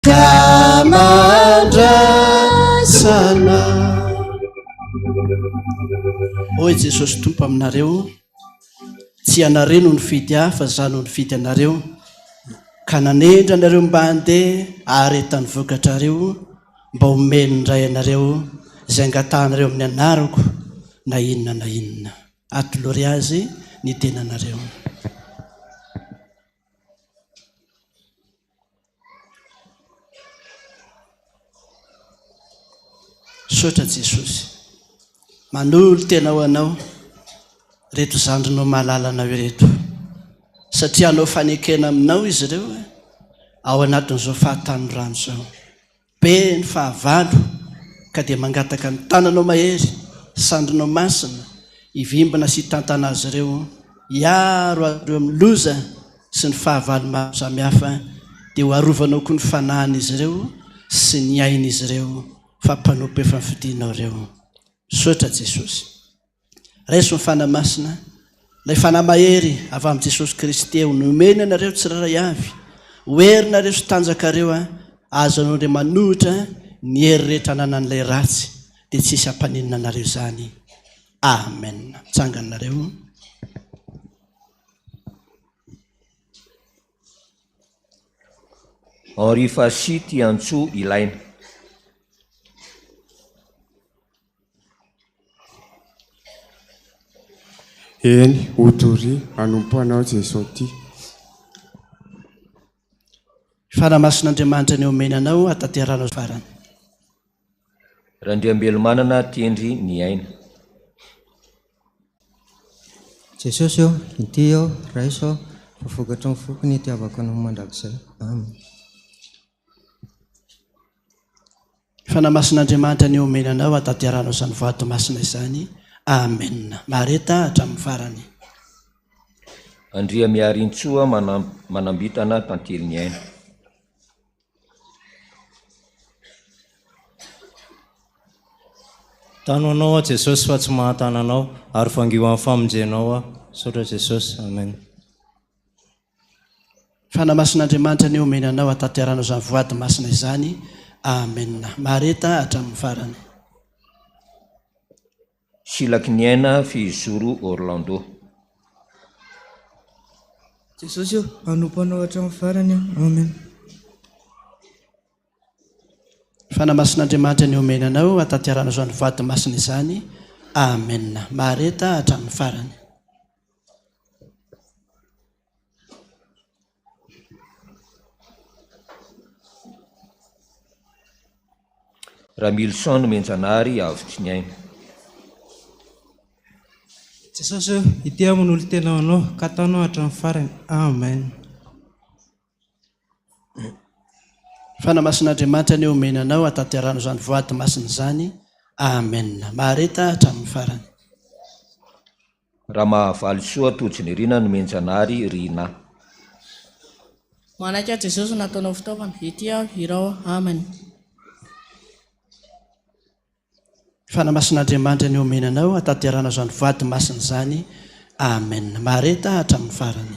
Tamandrasana Hoy Jesosy Tompo aminareo Tsy ianareo no nifidy ahy fa izaho no nifidy anareo ka nanendry anareo mba handeha haharetan'ny vokatrareo mba homen'ny Ray anareo izay angatahanareo amin'ny anarako na inona na inona. Atolory azy ny tenanareo. Misaotra Jesosy. Manolo tena ho anao reto zandrinao malala anao ireto. Satria anao fanekena aminao izy ireo eh, ao anatin'izao fahatanorana izao. Be ny fahavalo ka dia mangataka ny tananao mahery, sandrinao masina, hivimbina sy hitantana azy ireo, hiaro azy ireo amin'ny loza sy ny fahavalo maro samihafa, dia ho arovanao koa ny fanahin'izy ireo sy ny ain'izy ireo fa mpanompo efa nofidinao ireo. Misaotra Jesosy. Raiso ny Fanahy Masina, ilay Fanahy mahery avy amin'i Jesosy Kristy eo, nomeny anareo tsirairay avy, ho herinareo sy tanjakareo, azonao indray manohitra ny hery rehetra ananan'ilay ratsy, dia tsy hisy hampaninona anareo izany. Amen. Mitsangana nareo. Henri Fassy Tiantsoa ilaina. Eny, ho doria, hanompo Anao Jeso ty. Fanahy Masin'Andriamanitra ny omena Anao hatanterahana ho farany. Randriambelomanana Tendry ny aina. Jesosy ô, inty aho, raiso aho, fa vokatry ny foko ny hitiavako Anao mandrakizay. Amen. Fanamasin'Andriamanitra ny omena anao hahatanterahana izany vato masina izany. Amena. Mahareta hatramin'ny farany. Andriamiarintsoa Manambitana Tantely ny aina. Tano anao aho Jesosy fa tsy mahatana anao ary vangio amin'ny famonjenao aho. Misaotra Jesosy. Amen. Fanamasin'Andriamanitra anie omeny anao hatanteranao izany voady masina izany Amen Mahareta hatramin'ny farany. Silaky ny aina fehizoro Orlando. Jesosy ô, hanompo Anao hatramin'ny farany aho. Amen. Fanamasin'Andriamanitra anie omeny anao hatanteranao izany voady masina izany Amen Mahareta hatramin'ny farany. Ramilison Nomenjanahary avotry ny aina. Jesosy o, ity aho manolo tena ho Anao, ka ataonao hatramin'ny farany. Amen. Fanamasin'Andriamanitra anie omena anao hatanterahana izany voady masina izany. Amen. Mahareta hatramin'ny farany. Ramahavalisoa Tojo Nirina no mianjanahary ry na. Manaiky an'i Jesosy nataonao fitaovana, ety aho hirao Aminy. Fanamasin'Andriamandry ny omena anao hataterana izany vady masina izany Amen. Mahareta hatramin'ny farany.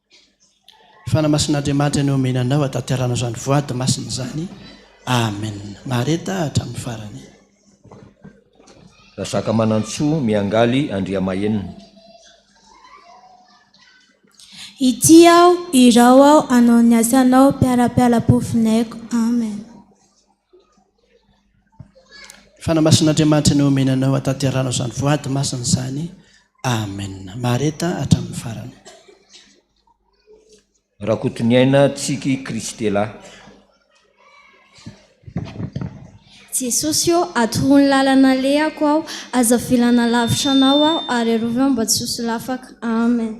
Fanamasin'Andriamanitra ny omena anao hataterana izany voady masina izany. Amen. Mahareta hatramin'ny farany. Razakamanantsoa Miangaly Andriamahenina. Ity aho, irao aho, hanao ny asanao, mpiara-piala-po vinay-ko. Amen. Fanamasin'Andriamanitra ny omena anao hatanteranao izany voady masina izany. Amen. Mahareta hatramin'ny farany. Rakotoniaina Tsiky Christella. Jesosy ô, atoroy ny lalana alehako aho, aza avelana lavitra Anao aho, ary arovy aho mba tsy ho solafaka. Amen.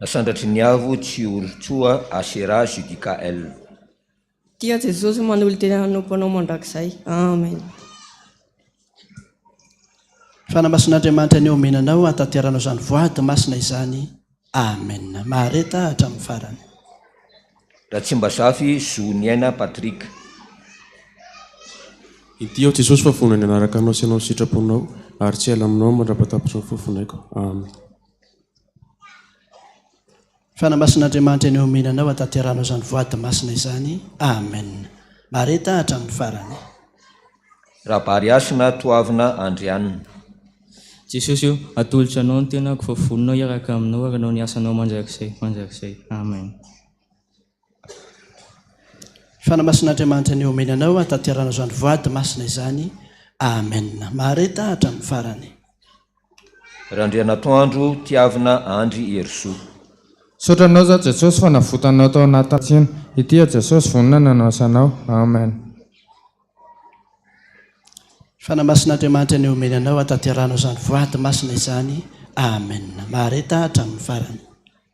Nasandratry ny avo tsy olon-tsoa Asherah Judica El. Tia an'i Jesosy manolo-tena hanompo Anao mandrakizay. Amen. Fanamasin'Andriamanitra ny omena anao hatateranao izany voady masina izany. Amen. Mahareta aho hatramin'ny farany. Ratsimbazafy Zo Niaina Patrick. Inty aho Jesosy fa vonona ny hanaraka Anao sy hanao ny sitraponao ary tsy hiala aminao mandra-patapitry ny fofonaiko. Amen. Fa na masin'Andriamanitra ny omena anao hataterahanao izany voady masina izany. Amen. Mareta hatramin'ny farany. Rabary hasina toavina Andrianina. Jesosy o, atolotro anao ny tenako fa vonona hiaraka aminao ary hanao ny asanao mandrakizay mandrakizay. Amen. Fanamasin'Andriamanitra ny omeny anao hataterana izany voady masina izany. Amen. Mahareta hatramin'ny farany. Randrianatoandro tiavina Andry Herisoa. Misaotra anao za Jesosy fa navotanao tao anaty tsena ity aho Jesosy vonona ny anasa anao Amen. Fanamasin'Andriamanitra ny omeny anao hataterana izany voady masina izany Amen. Mahareta hatramin'ny farany.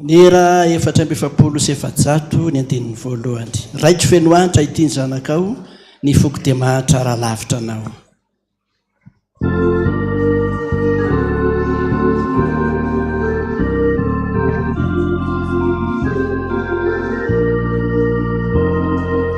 Nera efatra amby efapolo sy efajato ny andininy voalohany. Raiko feno antra ity ny zanakao, ny foko dia mahantra raha lavitra anao.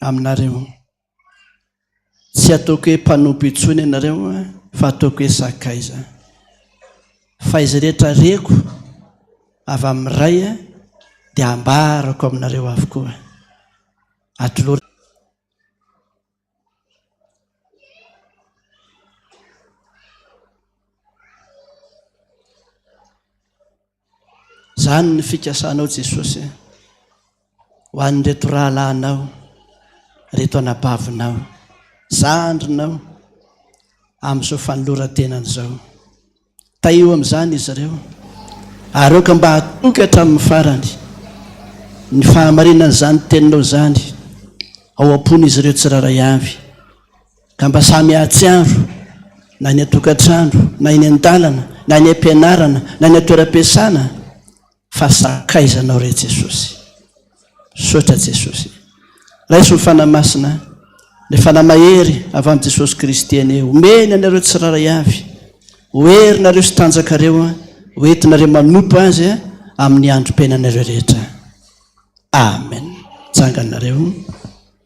aminareo. Tsy ataoko hoe mpanompo intsony ianareo fa ataoko hoe sakaiza. Fa izay rehetra reko avy amin'ny Ray dia ambarako aminareo avokoa. Atolory. Izany ny fikasanao Jesosy a! Ho an'ireto rahalahinao, ireto anabavinao, zandrinao amin'izao fanoloran-tenany izao. Tahio amin'izany izy ireo ary aoka mba hatoky hatramin'ny farany ny fahamarinan'izany Teninao izany ao am-pon'izy ireo tsirairay avy. Ka mba samy hahatsiaro, na eny an-tokantrano, na eny an-dalana, na eny am-pianarana, na eny an-toeram-piasana, fa sakaiza anao re Jesosy. Sotra Jesosy. Raiso ny Fanahy Masina, le Fanahy Mahery avy amin'i Jesosy Kristy anie, omeny anareo tsiraray avy, ho herinareo sy tanjakareo, ho entinareo manompo Azy amin'ny androm-piainanareo rehetra. Amen. Janganareo.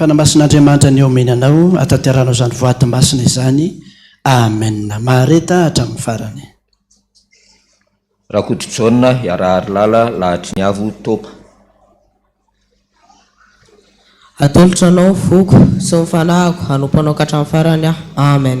Fanamasin'Andriamanitra ny omeny anao hahatanteranao izany voady masina izany. Amen. Mahareta hatramin'ny farany. Rakotojaona Hiaraharilala lahatry ny avo top. Atolotra anao ny foko sy ny fanahiko hanompo anao ka hatramin'ny farany aho. Amen.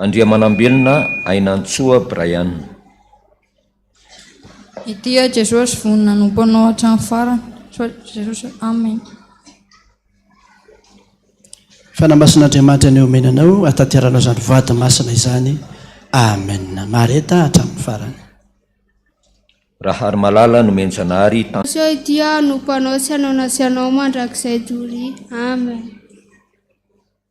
Andriamanambelona Ainantsoa Brian. Ity aho Jesosy vonona hanompo anao hatramin'ny farany soa Jesosy Amen. Fanahy Masin'Andriamanitra ny omena anao hataterana izany voady masina izany Amen Mareta hatramin'ny farany. Raharimalala Nomenjanahary Tan. Soa ity aho hanompo anao sy hanao na tsy hanao mandrakizay Doria Amen.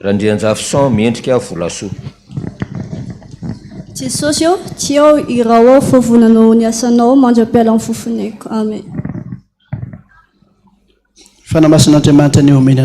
Randrianjafison miendrika volasoa. Jesosy ô, tsy ao iraho ao fa vonanao ny asanao mandra-pialan'ny fofon'aiko. Amen. Fanahy Masin'Andriamanitra ny omena anay.